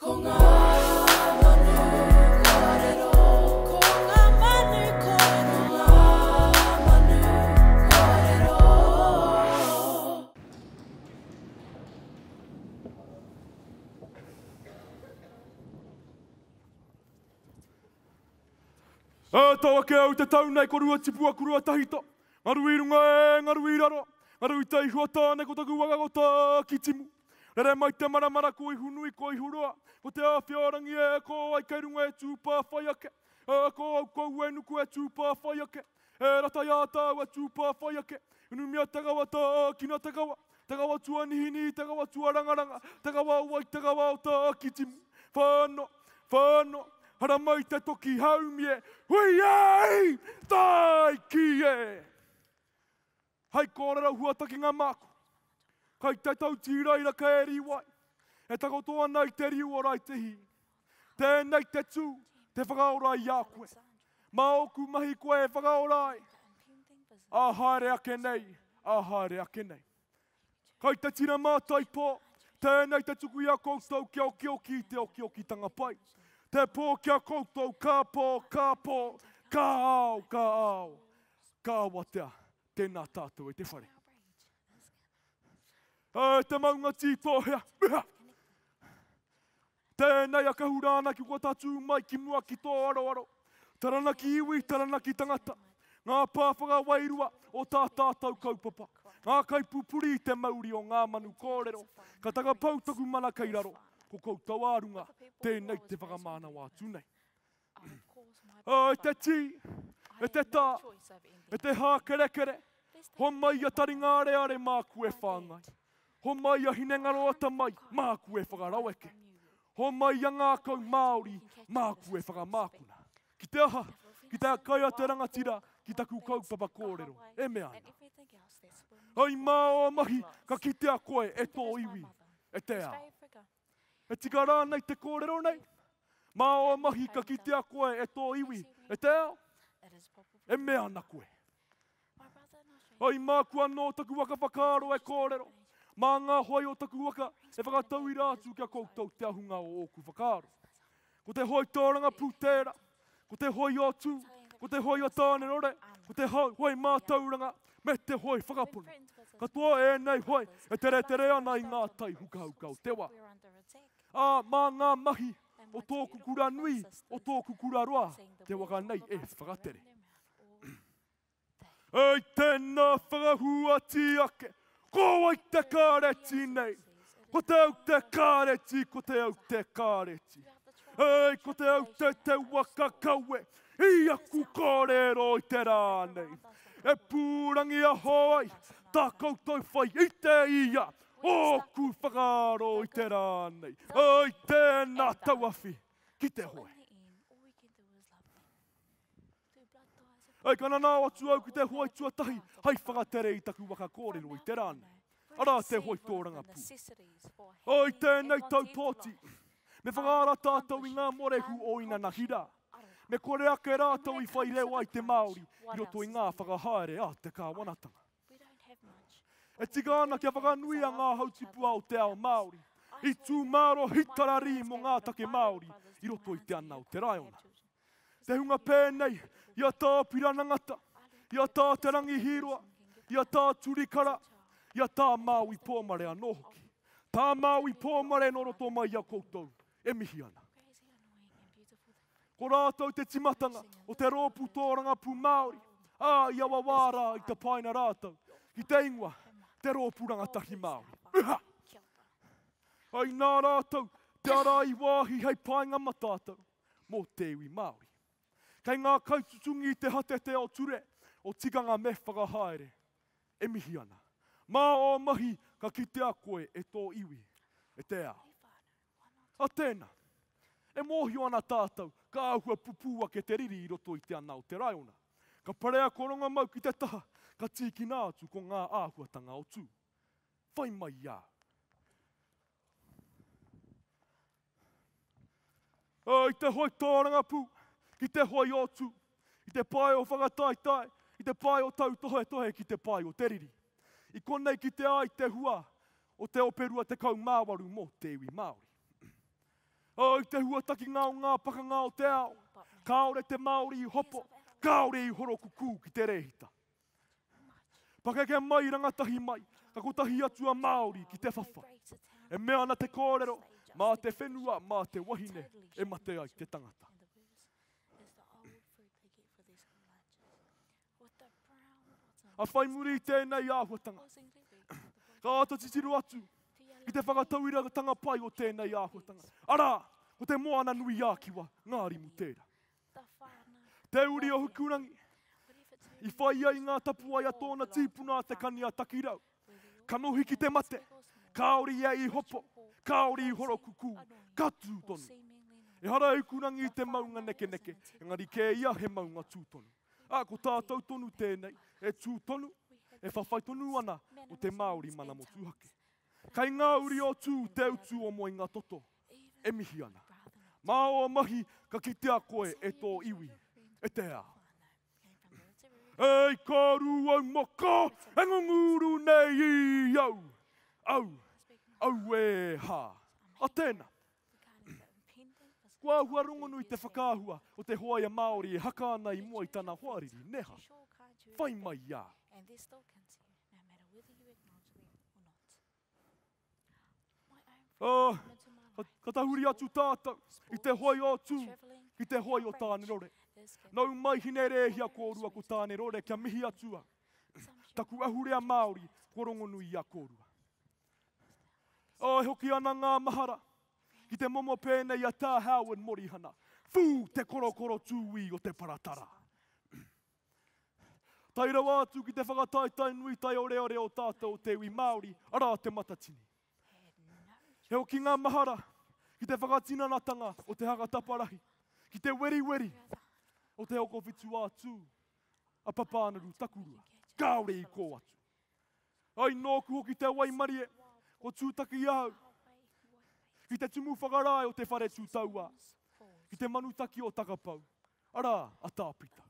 Ko ngā manu kōrero. Ko ngā manu kōrero. Ko ngā manu kōrero. E tau ake au te tau nei ko rua tipu aku rua tahita, ngaru i runga e ngaru i raro, ngaru i te ihua tāne ko taku waka ko Tākitimu. Rere mai te maramara ko Ihunui ko Ihuroa Ko te Awhiarangi e ako ai kei runga e Tūpā whai ake E ako au kou e nuku e Tūpā whai ake E ratai ā tāu a Tūpā whai ake Inumia te kawa tā ākina te kawa Te kawa tuanihinihi te kawa tuarangaranga Te kawa o wai te kawa o tā ākitimu Whānō, whānō, haramai te toki haumi e Hui ai! Tāiki e! Hai kōrero huatakinga māku, kai te tau tīraira ka e rīwai, e takoto ana i te riu o Raitehī. Tēnei te tū, te whakaora i a koe. Mā ōku mahi koe e whakaora ai, ā haere ake nei, ā haere ake nei. Kai te tira mātai pō, tēnei te tuku i a koutou kia okioki i te okiokitanga pai. Te pō ki a koutou, ka pō, ka pō, ka ao, ka ao. Ka awatea, tēnā tātou i te whare. E te maunga tītōhea, mea! Tēnei a Kahurāna ki kua tatū mai ki mua ki tō aroaro. Taranaki iwi, taranaki tangata. Ngā pā whakawairua o tā tātou kaupapa. Ngā kaipupuri i te mauri o ngā manu kōrero. Ka takapau taku mana kei raro, ko koutou ā runga, tēnei te whakamānawa atu nei. Ā, e te tī, e te tā, e te hākerekere, homai a Taringareare māku e whāngai, homai a Hinengaroata mai māku e whakaraweke, homai a ngākau Māori māku e whakamākuna. Ki te aha? Ki te kai a te rangatira ki taku kaupapa kōrero, e mea ana. Hei mā ō mahi ka kitea koe e tō iwi, e te ao. E tika rānei te kōrero nei? Mā ō mahi ka kitea koe e tō iwi, e te ao? E mea ana koe. O, i māku anō taku waka whakaaro e kōrero, mā ngā hoe o taku waka e whakatauira atu ki a koutou te ahunga o ōku whakaaro. Ko te hoi tōranga pūtēra, ko te hoi o tū, ko te hoi o tānerore, ko te hoi mātauranga, me te hoi whakapono. Katoa ēnei hoi e tere tere ana i ngā tai hukahuka o te wā. Ā, mā ngā mahi o tōku kura nui, o tōku kura roa, te waka nei e whakatere. Hei tēnā whakahuati ake, ko wai te kāreti nei? Ko te au te kāreti, ko te au te kāreti. Hei, ko te au te te waka kawe i aku kōrero i te rā nei. E pūrangiaho ai tā koutou whai i te ia o ōku whakaaro i te rā nei. Hei tēnā tauawhi ki te hoe. Hei ka nanao atu au ki te hoai tuatahi, hei whakatere i taku waka kōrero i te rā nei. Arā te hoai tōrangapū. O i tēnei tau pōti, me whakaara tātou i ngā morehu o Inana Hira. Me kore ake rātou i whai reo ai te Māori i roto i ngā whakahaere a te kāwanatanga. E tika ana kia whakanuia ngā hautipua o te ao Māori, i tū māro hitararī mō ngā take Māori i roto i te ana o te raiona. Te hunga pēnei, i a Tā Piranangata, i a Tā Te Rangi Hīroa, i a Tā Turikara, i a Tā Māui Pōmare anō hoki. Tā Māui Pōmare nō roto mai i a koutou, e mihi ana. Ko rātou te timatanga o te rōpū tōrangapū Māori, ā, i awa wā rā i tapaina rātou ki te ingoa, te Rōpū Rangatahi Māori. Uha! Ai nā rātou te ara i wāhi hei painga ma tātou. mō te iwi Māori. Kei ngā kaitutungi i te hatete o ture, o tikanga me whakahaere. E mihi ana. Mā ō mahi ka kitea koe e tō iwi, e te ao. A tēnā. E mōhio ana tātou, ka āhua pupū ake te riri i roto i te ana o te raiona. Ka parea ko Rongamau ki te taha, ka tīkina atu ko ngā āhuatanga o Tū. Whai mai i a au. Oh, i te hoi tōrangapū, ki te hoi o tū, i te pae o whakataetae, i te pae o tautohetohe ki te pae o te riri. I konei ki te ai te hua o te ope rua tekau mā waru mō te iwi Māori. Oh, i te hua takinga o ngā pakanga o te ao, kāore te Māori i hopo, kāore i horokukū ki te rēhita. Pakeke mai, rangatahi mai, ka kotahi atu a Māori ki te whawha. E mea ana te kōrero, mā te whenua, mā te wahine e mate ai te tangata. A whai muri i tēnei āhuatanga, ka āta titiro atu i te whakatauiratanga pai o tēnei āhuatanga, arā, ko te Moana-nui-ā-Kiwa, Ngārimu tērā. Te uri o Hukurangi, i whai ai ngā tapuwae a tōna tīpuna a Te Kani-a-Takirau. Kanohi ki te mate, kāore ia i hopo, kāore i horokukū, ka tū tonu. Ehara e Hukurangi i te maunga nekeneke, engari kē ia he maunga tū tonu. Ā, ko tātou tonu tēnei, e tū tonu, e whawhai tonu ana mō te Māori mana motuhake. Kai ngā uri o Tū te utu o Moenga-toto-o. e mihi ana. Mā ō mahi ka kitea koe e tō iwi, e te ao. Ei ka ru au maka, e ngunguru nei i au, au, au e ha. A tēna. Kua ahua rongonui te whakaahua o te hoaia Māori e haka ana i mua i tana hoariri, neha. Whai mai i a. Ā, ka, ka tahuri atu tātou i te hoi o Tū ki te hoi o Tānerore. Nau mai Hinerēhia kōrua ko Tānerore kia mihi atu au. Taku ahurea Māori kua rongonui i a kōrua. Ā, e hoki ana ngā mahara ki te momo pēnei a Tā Howard Morihana, Fū! Te korokoro tūī o te paratara! Tae rawa atu ki te whakataetae nui taioreore o tātou o te iwi Māori, arā Te Matatini. He hokinga mahara ki te whakatinanatanga o te haka taparahi, ki te weriweri o te hokowhitu ā-tū a Papānuru Takurua, kāore i kō atu. Ai nōku hoki te waimarie, ko Tūtaki ahau, ki te tumu whakarae o te whare tū tauā, ki te manutaki o Takapau, Arā, a Tāpita.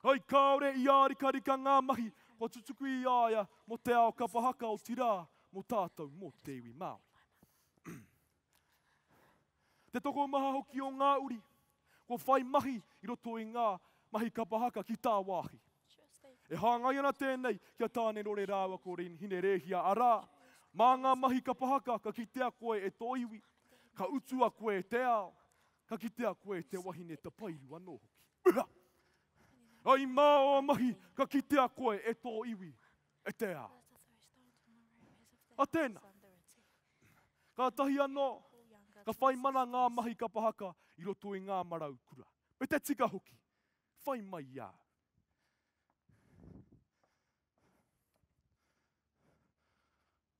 Hai kāore i ārikarika ngā mahi kua tutuki i a ia mō te ao kapa haka, otirā, mō tātou, mō te iwi Māori. Te tokomaha hoki o ngā uri kua whai mahi i roto i ngā mahi kapa haka ki tāwāhi. E hāngai ana tēnei ki a Tānerore rāua ko Rin Hinerēhia, arā, mā ngā mahi kapa haka ka kitea koe e tō iwi, ka utua koe e te ao, Ka kitea koe te wahine tapairu anō hoki. Ura! I māua mahi ka kitea koe e tō iwi, e te ao. A tēnā, kātahi anō ka whai mana ngā mahi kapa haka i roto i ngā marau kura. Me te tika hoki, whai mai i a au.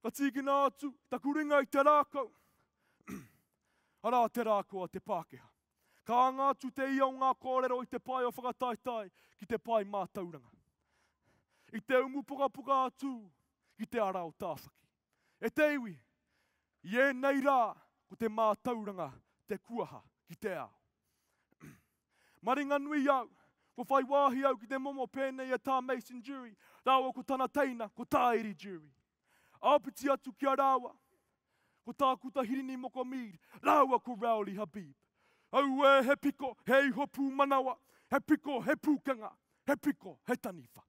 Ka tīkina atu taku ringa i te rākau, arā te rākau a te Pākehā. Ka anga atu te ia o ngā kōrero i te pae o whakataetae ki te pae mātauranga. I te umu pukapuka a Tū ki te ara o Tāwhaki. E te iwi, i ēnei rā ko te mātauranga te kuaha ki te ao. Maringanui au, ko whai wāhi au ki te momo pēnei e Tā Mason Durie rāua ko tana teina, ko Tāiri Durie. Āpiti atu ki a rāua, ko Tākuta Hirini Moko Mead rāua ko Rowley Habib. Auē, he piko, he iho pūmanawa, he piko, he pūkenga, he piko, he taniwha.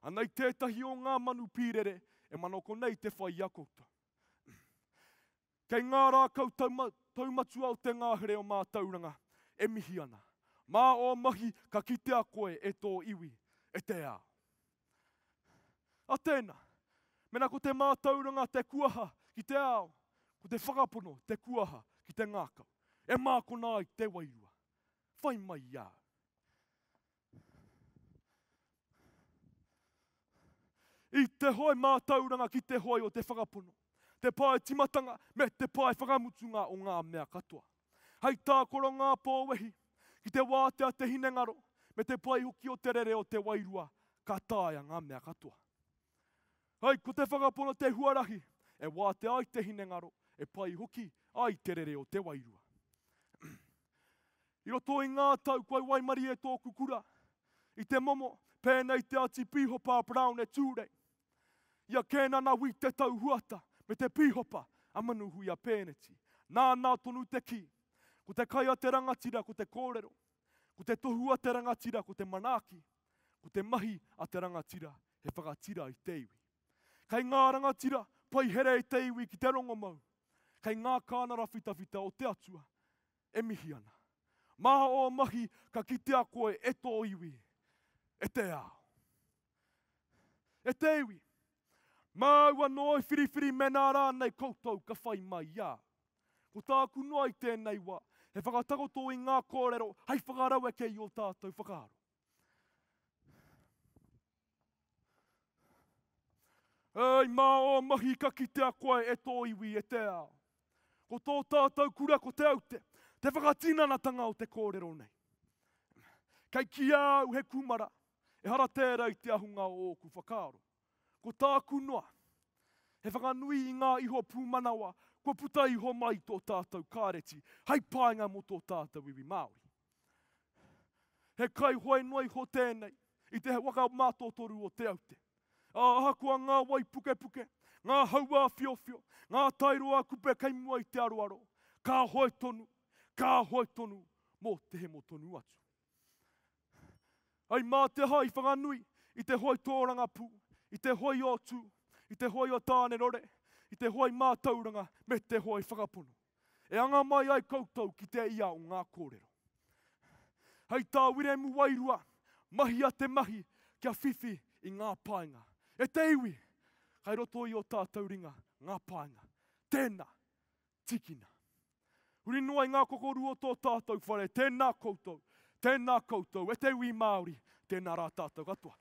Ana i tētahi o ngā manu pīrere e manoko nei te whai i a koutou. Kei ngā rākau taumatua o te ngāhere o mātauranga e mihi ana. Mā ō mahi ka kitea koe e tō iwi, e te ao. A tēnā, mēnā ko te mātauranga te kuaha ki te ao, ko te whakapono te kuaha ki te ngākau, e mākona ai te wairua. Whai mai i a au. I te hoe mātauranga ki te hoe o te whakapono, te pae timatanga me te pae whakamutunga o ngā mea katoa. Hei tākoro ngā pōwehi ki te wātea te hinengaro me te pai hoki o te rere o te wairua ka taea ngā mea katoa. Hei ko te whakapono te huarahi e wātea ai te hinengaro, e pai hoki ai te rere o te wairua. I roto i ngā tau kua waimarie e tōku kura, i te momo, pēnei i te ati pīhopa a Brown e Tūrei, i a Kēnana Wī Te Tau Huata me te pīhopa a Manuhuia Pēneti. Nānā tonu te kī, ko te kai a te rangatira ko te kōrero, ko te tohu a te rangatira ko te manaaki, ko te mahi a te rangatira he whakatira i te iwi. Kei ngā rangatira pai here i te iwi ki te rongomau, kei ngā kānara whitawhita o te Atua, e mihi ana. Mā ō mahi ka kitea koe e tō iwi, e te ao. E te iwi, māu anō e whiriwhiri mēnā rānei koutou ka whai mai i a au. Ko tāku noa i tēnei wā, he whakatakoto i ngā kōrero hei whakaraueke i ō tātou whakaaro. E ai mā ō mahi ka kitea koe e tō iwi, e te ao. Ko tō tātou kura ko Te Aute, te whakatinanatanga o te kōrero nei. Kei kī a au he kūmara, ehara tērā i te ahunga o ōku whakaaro. Ko tāku noa, he whakanui i ngā iho pūmanawa kua puta iho mai i tō tātou kāreti hei painga mō tō tātou iwi Māori. He kaihoe noa iho tēnei i te waka mātotoru o Te Aute. Ahakoa ngā waipukepuke, ngā hauā whiowhio, ngā tairoa kupe kei mua i te aroaro, ka hoe tonu, ka hoe tonu mō te hemo tonu atu. Ai mā te aha i whakanui i te hoe tōrangapū, i te hoe o Tū, i te hoe o Tānerore, i te hoe mātauranga me te hoe whakapono. E anga mai ai koutou ki te ia o ngā kōrero. Hei tā Wiremu Wairua, Mahia te mahi kia whiwhi i ngā painga. E te iwi, kai roto i o tātou ringa ngā painga. Tēnā, tīkina. Huri noa i ngā kokoru o tō tātou whare, tēnā koutou, tēnā koutou, e te iwi Māori, tēnā rā tātou katoa.